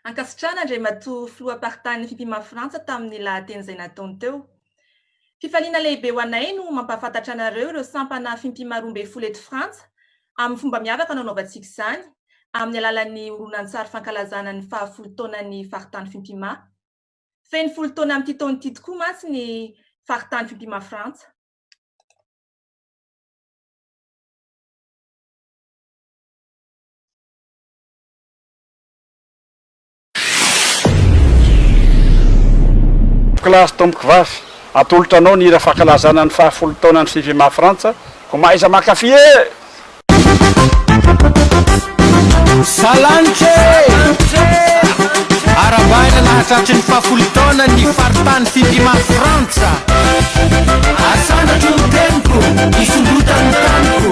Ankasitrahana Andriamatoa Filoham-paritanin'ny Fipima Frantsa tamin'ny lahateny izay nataony teo. Fifaliana lehibe ho anay no mampahafantatra anareo ireo sampana fimpima roa ambin'ny folo eto Frantsa amin'ny fomba miavaka no anaovantsika izany amin'ny alalan'ny horonantsary fankalazana ny fahafolo taonan'ny Faritany Fimpima. Feno folo taona amin'ity taona ity tokoa mantsy ny Faritany Fimpima Frantsa. Classe tompoko vavy, atolotra anao ny hira fankalazana ny faha folo taonan'ny Fifima Frantsa, ko mahaiza mankafy ee! Salanitra ee! Arahabaina nahatratry ny faha folo taona ny faritany Fifima Frantsa. Asandratra ny teniko, hisondrotana ny taniko.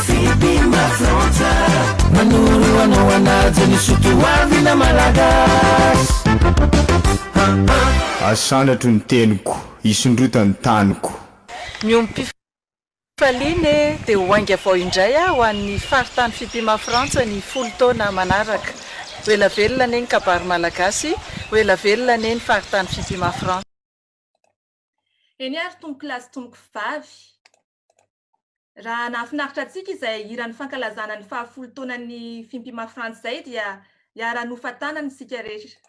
Fitimba Frantsa manoro anao hanaja ny soa toavina Malagasy ah ah. Asandratro ny teniko, hisondrota ny taniko. Miompifaliana e, dia ho ainga avao indray aho ho an'ny faritany Fitimba Frantsa ny folo taona manaraka. Ho ela velona anie ny kabary malagasy, ho ela velona anie ny faritany Fitimba Frantsa. Eny ary tompokolahy sy tompoko vavy. Raha nahafinaritra antsika izay hiran'ny fankalazana ny fahafolo taonan'ny Fimpima Frantz izay dia hiara-nofa-tanana isika rehetra.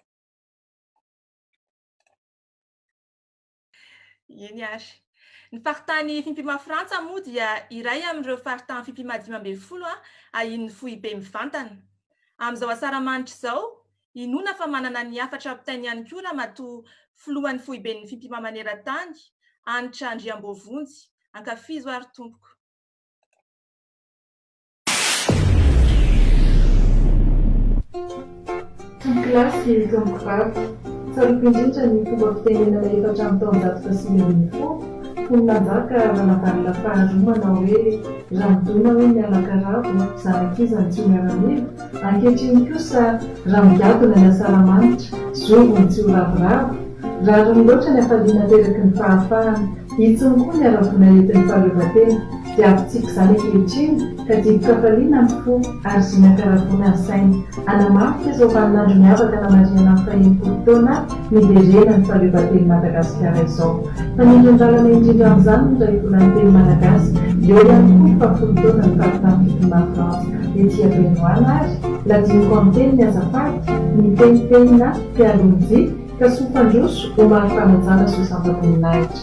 Eny ary. Ny faritany Fimpima Frantsa moa dia iray amin'ireo faritany Fimpima dimy ambin'ny folo ahian'ny foibe mivantana. Amin'izao Asaramanitra izao, Inoana fa manana ny hafatra ampitainy ihany koa Ramatoa Filohan'ny Foiben'ny Fimpima Maneran-tany, Hanitra Andriamboavonjy. Ankafizo ary tompoko. Ankilasy sy ankivavy, tsaroako indrindra ny fomba fitenenana efa hatramin'ny taonjato fahasivy ambin'ny folo, fony nanjaka Ranavalona faharoa manao hoe, Raha midona hoe miala karavo, zanak'iza no tsy ho miaramila? Ankehitriny kosa, raha migadona ny asaramanitra, zovy ny tsy ho ravoravo? Rariny loatra ny hafaliana ateraky ny fahafahana, intsony koa ny ara-boina entin'ny fahaleovantena, dia havitsiako izany ankehitriny ka dibo-kafaliana ny fo ary zina-karavoana ny saina, hanamafika izao vaninandro miavaka namarihanan'ny fahenimpolo taona aho, Heverena ny fahaleovanteny Madagasikara izao. Fa ny iton-dalana indrindra amin'izany ny raibolany teny malagasy. Eo ihany koa ny fahafolo taona ny faritany fitondran'i Frantsa ety Benoana ary, na diniko amin'ny teniny aza faty, nitenitenina mpialonjy ka soa fandroso ho mari-panajana sy ho santa-boninahitra.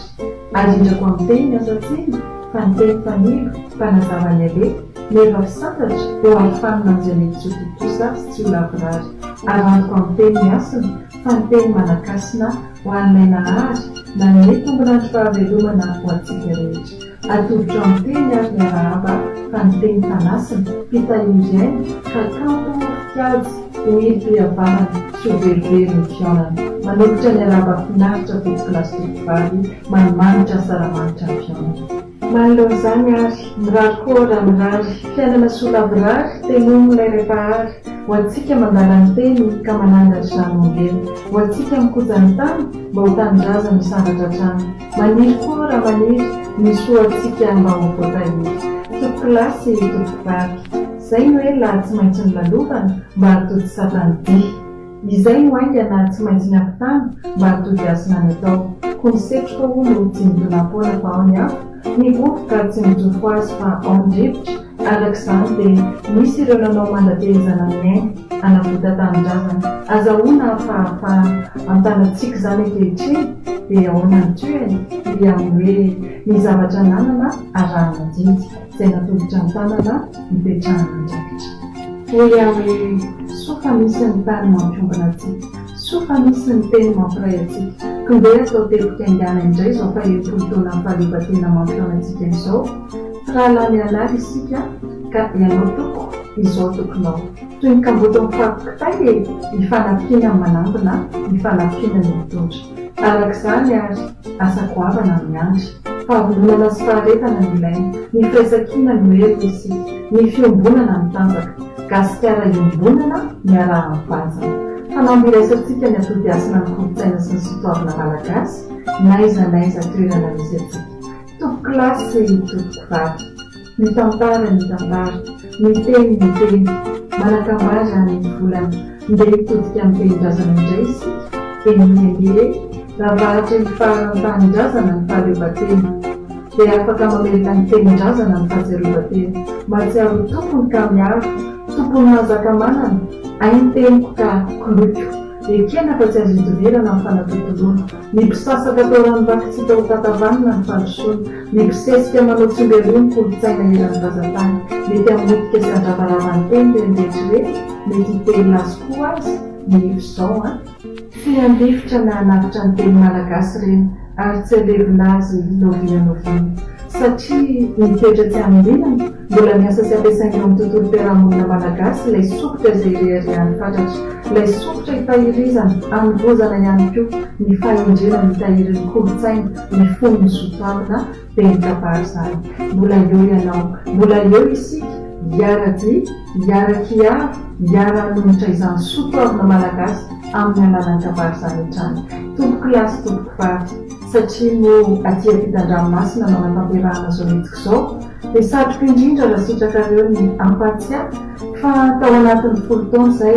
Arindrako amin'ny teny asa tsena fa ny teny fanilo, mpanazava ny alefa, meva fisantatra, ho aro fanina amin'izay mety tsy ho tontosa sy tsy ho lavorary. Arahako amin'ny teny ny hasina, fa ny teny Malagasina ho an'ilay Nahary nanome tombolan'ny fahavelomana ho antsika rehetra. Atolotra amin'ny teny ary ny arahaba fa ny teny fanasina, mpitahiry-aina, ka kanto ho fitiady, ho irim-pihavanana sy ho velively ny fihaonana. Manolotra ny arahaba finaritra Foto-kilasy Totovavy, manimanitra Asaramanitra ny fihaonana. Manoloana izany ary, mirary koa raha mirary, fiainana soa lavorary, tenomy ilay Ray Mpahary, ho antsika mandala ny teny ka manangatra izany ombieny, ho antsika mikoja ny tany mba ho tanindrazany misandratra hatrany. Maniry koa raha maniry, ny soa antsika mba ho voatahiry. Tompoko lahy sy tompoko vavy. Izay no ela tsy maintsy nolalovana, mba hahatontosa tany dihy. Izay no haingana tsy maintsy niampitana mba hatody hasina ny atao Ko ny setroka hono tsy midona am-poana fa ao ny afo Ny vovoka tsy mijoro ho azy fa ao ny rivotra Araka izany dia nisy ireo nanao mandatehezana ny ainy Hanavota tanindrazana Azahoana hafahafahana An-tanatsika izany ankehitriny Dia ahoana ny tohiny? Dia amin'ny hoe Ny zavatra ananana arahana didy izay natolotra ny tanana hipetrahan'Andraikitra. Hoy aho hoe, soa fa misy ny tany mampiombona antsika, soa fa misy ny teny mampiray antsika, k'ndeha atao teboka haingana indray izao fahenimpolo taonan'ny fahaleovantena mampihaona antsika izao, mpirahalahy mianara isika ka ianao toko, izao tokonao. Toy ny kamboty mifago kitay e! Hifanafina ny manangona, hifanafina ny mitondra. Arak'izany ary. Asa goavana no miandry. Fahavomonana sy faharetana no ilaina. Ny firaisankina no hery hoy isika. Ny fiombonana no tanjaka. Gasikara iombonana, miaraha mivantana. Fanamby iraisantsika ny atody hasina amin'ny kolontsaina sy ny sotoavina malagasy, n'aiza n'aiza toerana misy antsika. Tompokolahy sy tompokivavy. Ny tantara ny tantara, ny teny ny teny, manakambà izany ny volana, ndeha hitodika amin'ny tenin-drazana indray isika, eny ange raha vahatry ny faran'ny tanindrazana ny fahaleovantena dia afaka mamelona ny tenin-drazana ny fahatsiarovantena, mahatsiaro ho tompony ka miaro, tompon'ny mahazaka manana, hay ny teniko ka koloiko, ekena fa tsy azo idivirana ny fanatontoloana, ny mpisasaka atao ranovaky tsy hita ho tatavanina ny fandrosoana, Mibosesika manao tsimbelroa ny kolontsaina eran'ny vazantany. Mety hamotika sy handravarava ny teny ireny rehetra ireny, mety hitelina azy koa aza ny eto izao an! Tsy handefitra na hanavotra ny teny malagasy ireny ary tsy halevina azy novinanoviana. Satria ny toetra tsy hamintinana, mbola miasa sy ampiasaina eo amin'ny tontolom-piarahamonina malagasy ilay sokitra izay reharehan'ny fatratra, ilay sokitra itahirizana, hanovozana ihany koa ny fahendrena mitahiry ny kolontsaina, ny fon'ny zo tanana ben'ny kabary izany. Mbola eo ianao, mbola eo isika hiara-dia, hiara-kiaro, hiara-hanonitra izany soa toavina malagasy amin'ny alalan'ny kabary izany hatrany. Tompoko lahy sy tompoko vavy, satria moa aty ampitan-dranomasina no anatanterahana izao hetsika izao, dia satriko indrindra raha sitrakareo ny hampahatsiahy fa tao anatin'ny folo taona izay,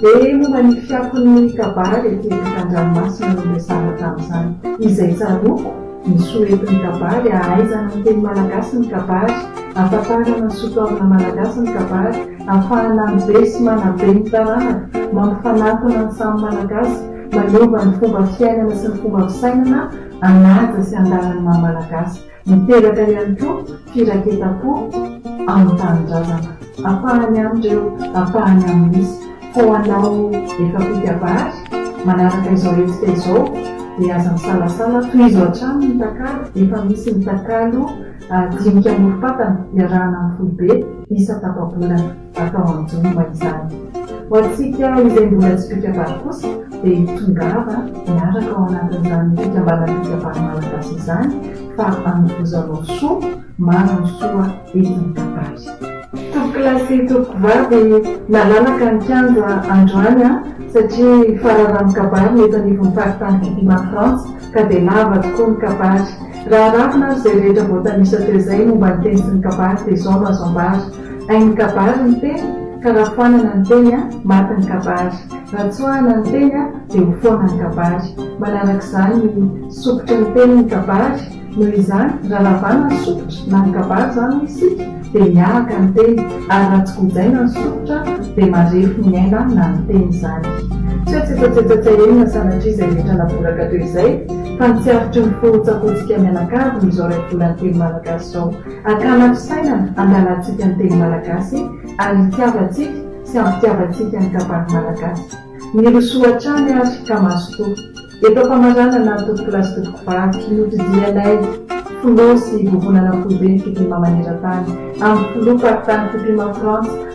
Dia momba ny fiakon'ny kabary ety an-dranomasina no resahana tamin'izany. Izay tsaroako, ny soa entin'ny kabary, ahaizana miteny malagasy ny kabary, ahafantarana ny sotoavina malagasy ny kabary, ahafahana mibe sy manabe ny taranaka, mampifanatona ny samy malagasy, manova ny fomba fiainana sy ny fomba fisainana hanaja sy handala ny maha malagasy. Miteraka ihany koa firaketam-po amin'ny tanindrazana. Ampahany amin' ireo ampahany amin' izy. Fa ho anao efa mpikabary, manaraka izao hetsika izao dia aza misalasala, tohizo hatrany ny takalo, efa misy ny takalo dinika amorom-patana iarahana amin'ny foibe isa tapa-bolana. atao anjomba izany. Ho antsika izay mbola tsy mpikabary kosa dia tongava miaraka ao anatin'izany fikambanam-pikabary malagasy izany fa anovozanao soa maro ny soa entin'ny kabary. Tompokolahy sy tompokovavy nalalaka ny kianja androany an! satria fararanon-kabary ny eto anivon'ny faritany Kidima Frantsa ka dia lava tokoa ny kabary. Raha aravina ary izay rehetra voatanisa teo izay momba ny teny sy ny kabary dia izao no azo ambara, Hay ny kabary ny teny ka raha foanana ny teny a, maty ny kabary. Raha tsoahana ny teny a, dia ho foana ny kabary. Manaraka izany ny sokitry ny teny ny kabary. Noho izany, raha ravana ny sokitra na ny kabary izany hoy isika, dia miahaka ny teny, ary raha tsy gojaina ny sokitra dia marefo ny aina na ny teny izany. Tsy hoe tsetsatsetsatsahirina sanatria izay rehetra navoraka teo izay, fa ny tsy arotry ny fo ho tsakoantsika mianakavy noho izao raibolan'ny teny malagasy izao. Akana fisainana hangalantsika ny teny malagasy ary hitiavantsika sy hampitiavantsika ny kabary malagasy. Mirosoa hatrany ary ka mazotoa. Eto am-pamaranana tompoko lahy sy tompoko vavy, nodidianay Filoha sy Vovonana Foibe ny Fipima maneran-tany, amin'ny Filoha faritany Fipima Frantsa,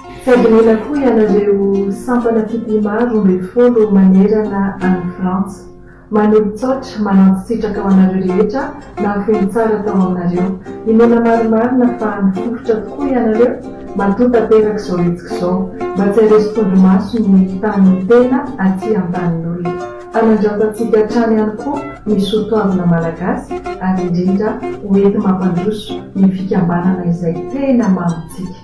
Sady mila koa ianareo sampana fitia maro roa ambin'ny folo manerana an'i Frantsa. Manolotsaotra manantsitsitraka ho anareo rehetra nahafoy ny tsara tao aminareo. Inoana marimarina fa nifofotra tokoa ianareo matoa tanteraka izao hetsika izao. Mba tsy hareso tondromaso ny tanin'ny tena aty antanin'olona. Hanandratantsika hatrany ihany koa ny soa toavina malagasy ary indrindra ho enti-mampandroso ny fikambanana izay tena mamo antsika.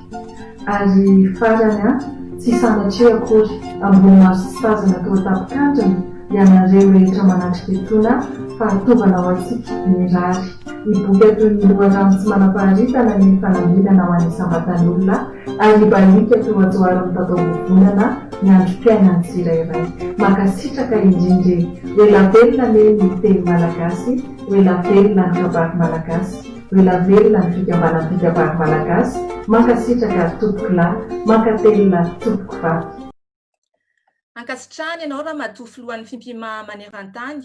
Ary farany an, tsy sanatria akory, ambony maso tsy tazana toa tapin-kandrina, ianareo rehetra manatrika etoana fahatovana ho antsika, mirary, hiboika toy ny loharano tsy manam-paharitana ny fanambinana ho any isam-batan'olona, ary hibaliaka toa johary mitatao vovonana ny androm-piainan'ny tsirairay. Mankasitraka indrindra e! Ho ela velona anie ny teny malagasy, ho ela velona ny kabary malagasy. Ho ela velona ny fikambanan'ny mpikabary malagasy, mankasitraka tompokolahy, mankatelina tompokovavy. Ankasitrahana ianao Ramatoa Filohan'ny Fimpima manerantany,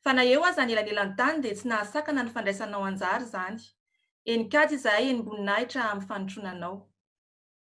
fa na eo aza ny elanelan-tany dia tsy nahasakana ny fandraisanao anjara izany. Eny kajy izahay eny Mboninahitra amin'ny fanotronanao.